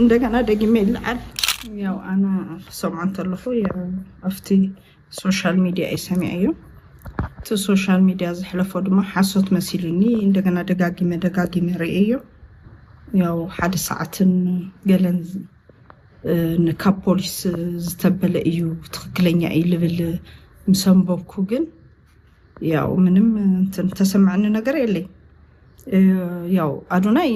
እንደገና ደግሜ ይለዓል ያው ኣነ ክሰምዖ እንተለኹ ኣብቲ ሶሻል ሚድያ እዩ ሰሚዐዮ እቲ ሶሻል ሚድያ ዝሕለፎ ድማ ሓሶት መሲሉኒ እንደገና ደጋጊመ ደጋጊመ ርእየዮ ያው ሓደ ሰዓትን ገለን ካብ ፖሊስ ዝተበለ እዩ ትክክለኛ እዩ ልብል ምሰንበብኩ ግን ያው ምንም እንትን ተሰማዕኒ ነገር የለይ ያው ኣዶናይ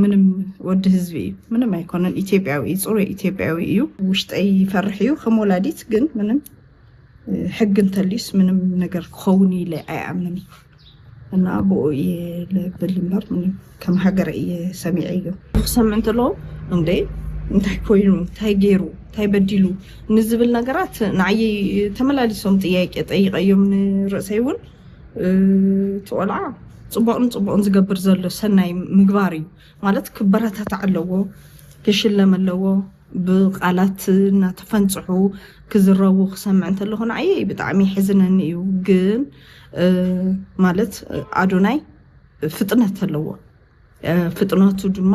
ምንም ወዲ ህዝቢ እዩ ምንም ኣይኮነን ኢትዮጵያዊ እዩ ፅሩይ ኢትዮጵያዊ እዩ ውሽጠይ ይፈርሕ እዩ ከም ወላዲት ግን ምንም ሕግ እንተልዩስ ምንም ነገር ክኸውን ኢለ ኣይኣምን እና ብኡ እየ ልብል እምበር ምንም ከም ሃገር እየ ሰሚዐዮ። ክሰምዕ እንተለኹ እንዴ እንታይ ኮይኑ እንታይ ገይሩ እንታይ በዲሉ ንዝብል ነገራት ንዓይ ተመላሊሶም ጥያቄ ጠይቀዮም ንርእሰይ እውን እቲ ቆልዓ ፅቡቕን ፅቡቕን ዝገብር ዘሎ ሰናይ ምግባር እዩ ማለት ክበረታታዕ ኣለዎ ክሽለም ኣለዎ ብቃላት እናተፈንፅሑ ክዝረቡ ክሰምዕ እንተለኹ ንዓይ ብጣዕሚ ይሕዝነኒ እዩ ግን ማለት ኣዶናይ ፍጥነት ኣለዎ ፍጥነቱ ድማ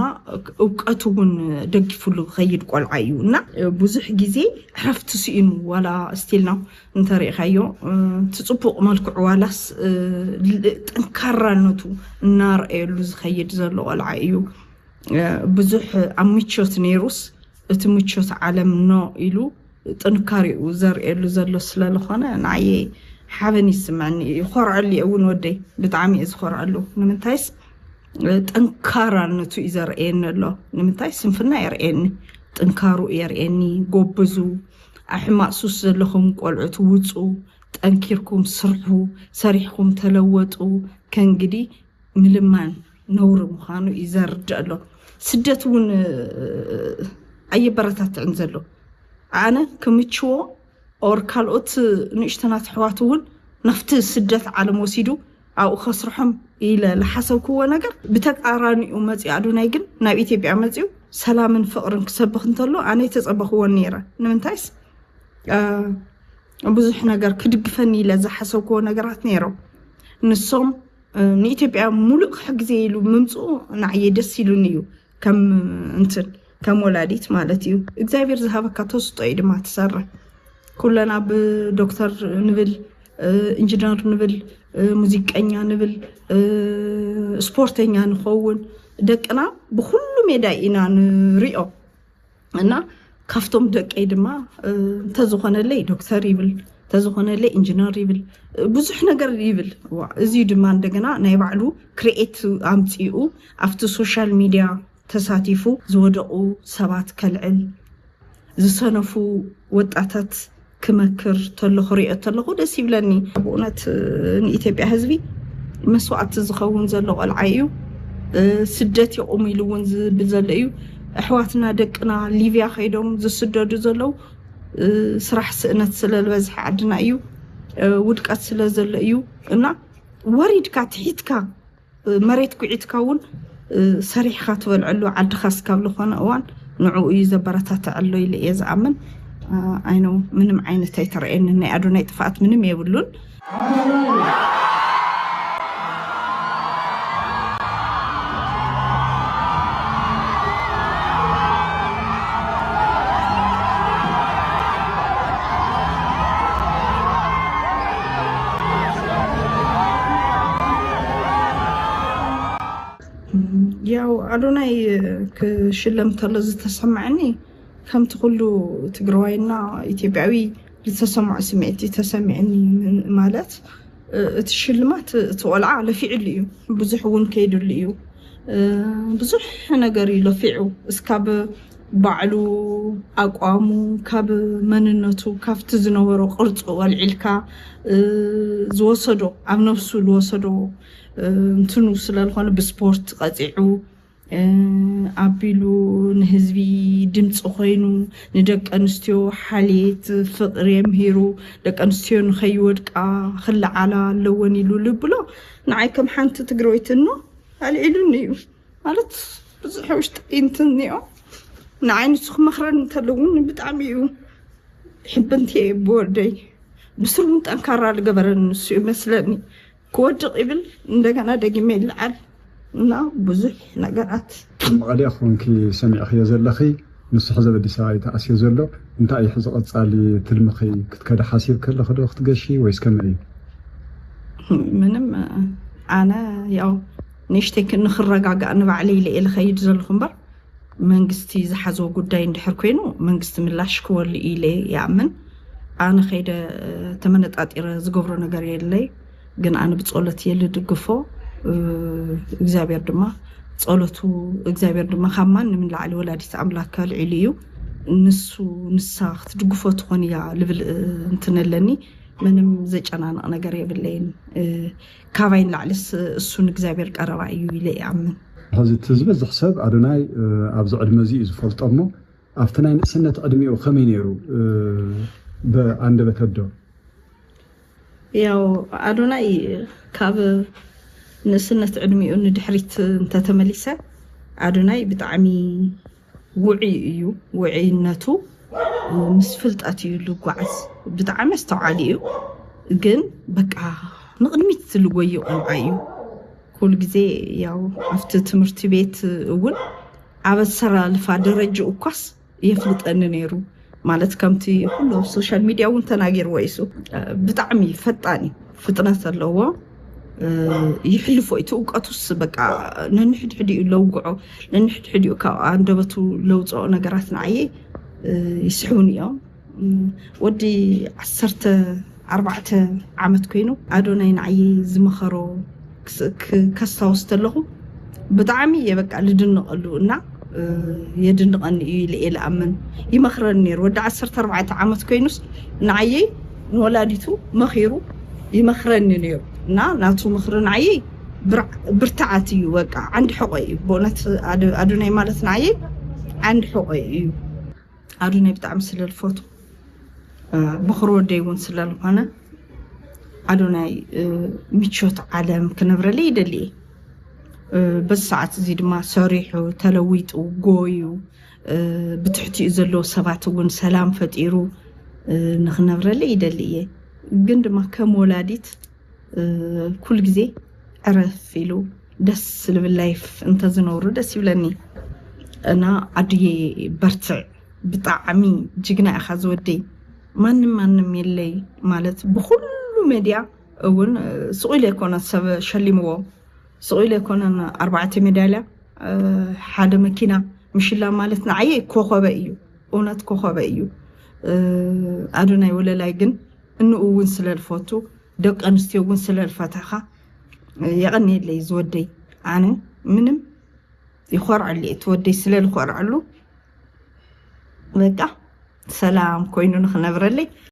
እውቀቱ እውን ደጊፉሉ ከይድ ቆልዓ እዩ እና ብዙሕ ግዜ ዕረፍቲ ስኢኑ ዋላ ስቲልና እንተሪእካዮ ትፅቡቅ መልክዑ ዋላስ ጠንካራነቱ እናርአየሉ ዝኸይድ ዘሎ ቆልዓ እዩ ብዙሕ ኣብ ምቾት ነይሩስ እቲ ምቾት ዓለም ኖ ኢሉ ጥንካሬኡ ዘርእየሉ ዘሎ ስለልኾነ ንዓየይ ሓበን ይስመዕኒ እዩ ይኾርዐሉ እየ እውን ወደይ ብጣዕሚ እየ ዝኾርዐሉ ንምንታይስ ጠንካራነቱ እዩ ዘርእየኒ ኣሎ ንምንታይ ስንፍና የርእየኒ ጥንካሩ የርእየኒ ጎብዙ ኣሕማቅ ሱስ ዘለኹም ቆልዑት ውፁ ጠንኪርኩም ስርሑ ሰሪሕኩም ተለወጡ ከእንግዲ ምልማን ነውሪ ምዃኑ እዩ ዘርድእ ኣሎ ስደት እውን ኣየበረታትዕን ዘሎ ኣነ ክምችዎ ኦር ካልኦት ንእሽተናት ኣሕዋት እውን ናብቲ ስደት ዓለም ወሲዱ ኣብኡ ከስርሖም ኢለ ዝሓሰብክዎ ነገር ብተቃራኒኡ መፅኡ ኣዱናይ ግን ናብ ኢትዮጵያ መፅኡ ሰላምን ፍቅርን ክሰብኽ እንተሎ ኣነ ተፀበኽዎን ነይረ ንምንታይስ ብዙሕ ነገር ክድግፈኒ ኢለ ዝሓሰብክዎ ነገራት ነይሮም ንሶም ንኢትዮጵያ ሙሉእ ክሕግዜ ኢሉ ምምፅኡ ንዓየ ደስ ኢሉኒ እዩ ከም እንትን ከም ወላዲት ማለት እዩ እግዚኣብሔር ዝሃበካ ተስጦ እዩ ድማ ትሰርሕ ኩለና ብዶክተር ንብል ኢንጂነር ንብል ሙዚቀኛ ንብል ስፖርተኛ ንኸውን ደቅና ብኩሉ ሜዳ ኢና ንሪኦ እና ካብቶም ደቀይ ድማ እንተዝኾነለይ ዶክተር ይብል እንተዝኾነለይ ኢንጂነር ይብል ብዙሕ ነገር ይብል እዚ ድማ እንደገና ናይ ባዕሉ ክርኤት ኣምፂኡ ኣብቲ ሶሻል ሚድያ ተሳቲፉ ዝወደቁ ሰባት ከልዕል ዝሰነፉ ወጣታት ክመክር ተሎ ክሪኦ ተለኹ ደስ ይብለኒ ብእውነት ንኢትዮጵያ ህዝቢ መስዋእቲ ዝኸውን ዘሎ ቆልዓ እዩ ስደት ይቑም ኢሉ እውን ዝብል ዘሎ እዩ ኣሕዋትና ደቅና ሊብያ ከይዶም ዝስደዱ ዘለው ስራሕ ስእነት ስለዝበዝሐ ዓድና እዩ ውድቀት ስለ ዘሎ እዩ እና ወሪድካ ትሒትካ መሬት ኩዒትካ እውን ሰሪሕኻ ትበልዐሉ ዓድኻ እስካብ ዝኾነ እዋን ንዕኡ እዩ ዘበረታትዕ ኣሎ ኢለ እየ ዝኣምን። ኣይነው ምንም ዓይነት ኣይተረእየንን ናይ ኣዶናይ ጥፍኣት ምንም የብሉን። ያው ኣዶናይ ክሽለም ተሎ ዝተሰማዐኒ ከምቲ ኩሉ ትግራዋይና ኢትዮጵያዊ ዝተሰምዖ ስምዒት እዩ ተሰሚዕኒ ማለት እቲ ሽልማት እቲ ቆልዓ ለፊዕሉ እዩ ብዙሕ እውን ከይድሉ እዩ ብዙሕ ነገር እዩ ለፊዑ እስካብ ባዕሉ ኣቋሙ ካብ መንነቱ ካብቲ ዝነበሮ ቅርፁ ወልዒልካ ዝወሰዶ ኣብ ነብሱ ዝወሰዶ እንትኑ ስለዝኾነ ብስፖርት ቀፂዑ ኣቢሉ ንህዝቢ ድምፂ ኮይኑ ንደቂ ኣንስትዮ ሓልየት ፍቅሪ የምሂሩ ደቂ ኣንስትዮ ንኸይወድቃ ክለዓላ ኣለወን ኢሉ ልብሎ ንዓይ ከም ሓንቲ ትግረወይቲ እኖ ኣልዒሉኒ እዩ። ማለት ብዙሕ ውሽጢ እንትን እኒኦ ንዓይ ንሱ ክመኽረኒ እንተሎ እውን ብጣዕሚ እዩ ሕብንቲ እየ ብወደይ ብስሩ እውን ጠንካራ ዝገበረኒ ንሱ እዩ መስለኒ ክወድቕ ይብል እንደገና ደጊመ ይለዓል እና ብዙሕ ነገራት ኣብ መቐለ ኮንኪ ሰሚዕኽዮ ዘለኺ ንሱ ሕዚ ኣብ ኣዲስ ኣበባ እዩ ተኣስዮ ዘሎ እንታይ እዩ ሕዚ ቐፃሊ ትልምኺ ክትከዲ ሓሲብኪ ኣለኺ ዶ ክትገሺ ወይስ ከመይ እዩ ምንም ኣነ ያው ንእሽተይ ንክረጋጋእ ንባዕለይ ኢለ እየ ልኸይድ ዘለኹ እምበር መንግስቲ ዝሓዞ ጉዳይ እንድሕር ኮይኑ መንግስቲ ምላሽ ክወሉ እዩ ኢለ ይኣምን። ኣነ ከይደ ተመነጣጢረ ዝገብሮ ነገር የለይ ግን ኣነ ብጸሎት እየ ልድግፎ እግዚኣብሔር ድማ ጸሎቱ እግዚኣብሔር ድማ ካብ ማንም ንላዕሊ ወላዲት ኣምላክ ከልዒሉ እዩ ንሱ ንሳ ክትድግፎ ትኾን እያ ልብል እንትን ኣለኒ ምንም ዘጨናንቕ ነገር የብለይን። ካባይ ንላዕልስ እሱ ንእግዚኣብሔር ቀረባ እዩ ኢለ ይኣምን። ሕዚ እቲ ዝበዝሕ ሰብ ኣዶናይ ኣብዚ ዕድመ እዚ እዩ ዝፈልጦ እሞ ኣብቲ ናይ ንእስነት ዕድሜኡ ከመይ ነይሩ ብኣንደበተ ኣዶ? ያው ኣዶናይ ካብ ንእስነት ዕድሜኡ ንድሕሪት እንተተመሊሰ ኣዶናይ ብጣዕሚ ውዑይ እዩ ውዑይነቱ ምስ ፍልጠት እዩ ልጓዓዝ ብጣዕሚ ኣስተውዓሊ እዩ ግን በቃ ንቕድሚት ዝልጎዩ ቆልዓ እዩ ኩሉ ግዜ ያው ኣብቲ ትምህርቲ ቤት እውን ኣብ ኣሰላልፋ ደረጅኡ እኳስ የፍልጠኒ ነይሩ ማለት ከምቲ ኩሉ ሶሻል ሚድያ እውን ተናጊርዎ ኢሱ ብጣዕሚ ፈጣን እዩ ፍጥነት ኣለዎ ይሕልፎ እቲ እውቀቱስ በቃ ነንሕድሕድ እዩ ለውግዖ ነንሕድሕድ እዩ ካብ ኣንደበቱ ለውፅኦ ነገራት ንዓየ ይስሕቡን እዮም ወዲ ዓሰርተ ኣርባዕተ ዓመት ኮይኑ ኣዶናይ ንዓይ ዝመኸሮ ከስታውስ ተለኹ ብጣዕሚ እየ በቃ ልድንቐሉ እና የድንቐኒ እዩ ኢለ እየ ልኣምን ይመኽረኒ ነይሩ ወዲ ዓሰርተ ኣርባዕተ ዓመት ኮይኑስ ንዓየይ ንወላዲቱ መኺሩ ይመኽረኒ ነይሩ እና ናቱ ምኽሪ ንዓየይ ብርትዓት እዩ በቃ ዓንዲ ሕቆ እዩ ብእውነት ኣዶናይ ማለት ንዓየይ ዓንዲ ሕቆ እዩ ኣዱነይ ብጣዕሚ ስለልፈቱ ብኩር ወደይ እውን ስለልኾነ ኣዶናይ ምቾት ዓለም ክነብረለይ ይደሊ እየ በዚ ሰዓት እዚ ድማ ሰሪሑ ተለዊጡ ጎዩ ብትሕቲኡ ዘለዎ ሰባት እውን ሰላም ፈጢሩ ንክነብረለይ ይደሊ እየ ግን ድማ ከም ወላዲት ኩሉ ግዜ ዕረፍ ኢሉ ደስ ዝብል ላይፍ እንተዝነብሩ ደስ ይብለኒ እና ኣድየ በርትዕ ብጣዕሚ ጅግና ኢኻ ዝወደይ ማንም ማንም የለይ ማለት ብኩሉ ሜድያ እውን ስቑ ኢለ ኮነ ሰብ ሸሊምዎ ስቑ ኢለ ኮነን ኣርባዕተ ሜዳልያ ሓደ መኪና ምሽላ ማለት ንዓየ ኮኸበ እዩ እውነት ኮኸበ እዩ ኣዶናይ ወለላይ ግን እንኡ እውን ስለልፈቱ ደቂ ኣንስትዮ እውን ስለልፈተኻ የቐንየለይ ዝወደይ ኣነ ምንም ይኾርዐሉ እቲ ወደይ ስለልኾርዐሉ በቃ ሰላም ኮይኑ ንክነብረለይ